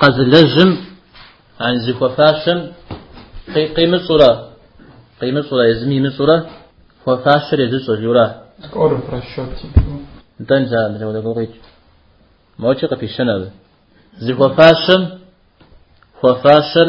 Къэзылэжьым ан зыхуэфащэм къимыщӏурэ, къимыщӏурэ, езым имыщӏурэ, хуэфащэр езыщӏэ, жура? Скоро в расчете. Нтӏэ нтӏэ, мыдэ удэ гукъикӏ. Мочи къыпищэн абы. Зыхуэфащэм хуэфащэр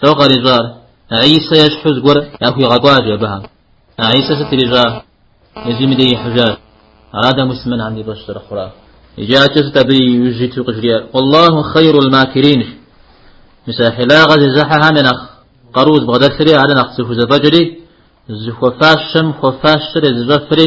Тӏэу къарищӏар, Гӏисэ ещхьу зыгуэр яхуигъэкӏуащ абыхэм. Гӏисэ сыт ирищӏа? Езым и дей ихьыжащ. Ара дэ муслъымэнхэм ди фӏэщ зэрыхъурар. Иджы атӏэ сыт абы иужь иту къыжриӏэр? Уаллаху хъейрул макирин. Мис а хьилагъэ зезыхьэхэм я нэхъ къару зыбгъэдэлъри, ар нэхъ зыхузэфӏэкӏри, зыхуэфащэм хуэфащэр езыщӏэфри,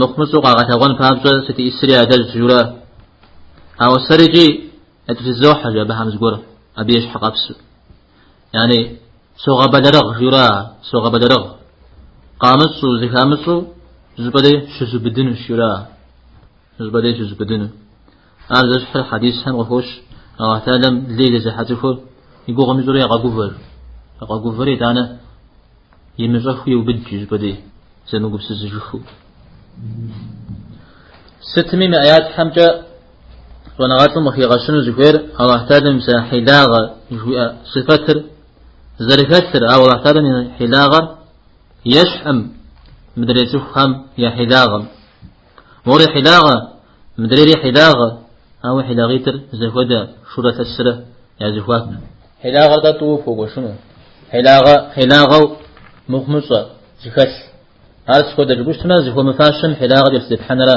Мыхъумыщӏу къагъэлъэгъуэн папщӏэ сытиисри адэжь журэ. Ауэ сэри икӏи ятӏутызохьэ жи абыхэм зыгуэр абы и щхьэ къэпсу. Яни, согъэбэлэрыгъ журэ, согъэбэлэрыгъ. Къамыщӏу, зыхамыщӏу, зыпӏэ дей щызубыдынущ журэ. Зыпӏэ дей щызубыдыну. Ар зэщхьыр хьэдисхэм къыхощ, Аллахь Тэхьэлам лей зезыхьэ цӏыхур и гугъу имыщӏурэ егъэгувэр. Егъэгувэр итӏанэ Имыщӏэхыу еубыд жи зыпӏэ дей, зэмыгупсысыжыхыу. Сытми мы ӏэятхьэмкӏэ щӏэныгъэлӏым къыхигъэщыну зыхуейр Аллахь Тэхьэлам мис а хьилагъэ жиӏэ сыфэтыр зэрыхэлъыр, ауэ Аллахь Тэхьэлам и хьилагъэр ещхьӏым мыдрей цӏыхухэм я хьилагъэм. Мори хьилагъэ, мыдрейри хьилагъэ, ауэ хьилагъитӏыр зэхуэдэ? Шурэ лъэсрэ я зэхуаку. Хьилагъэр-тӏэ тӏууэ пхуэгуэшыну? Хьилагъэ, хьилагъэу мыхъумыщӏэ, зыхэлъ. Ар сыт хуэдэ жыпӏущтмэ, зыхуэмыфащэм хьилагъэ кӏэлъызепхьэнра?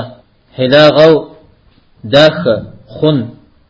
Хьилагъэу дахэ, хъун.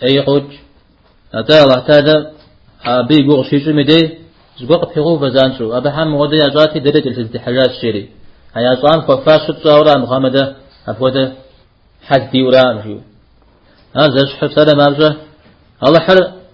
Ей къокӏ! Атӏэ Алахь Тэхьэла абы и гугъу къыщищӏыми дей, зыгуэр къыпигъэувэ занщӏэу, Абыхьэм мыхуэдэ ящӏати, дэри кӏэлъызытехьэжащ, жери. А ящӏам хуэфащэ тщӏауэ ара мыхъумэ дэ апхуэдэ хьэл диӏэу араӏым, жиӏэу. Ар зэщхьыр псалъэм папщӏэ Алыхьыр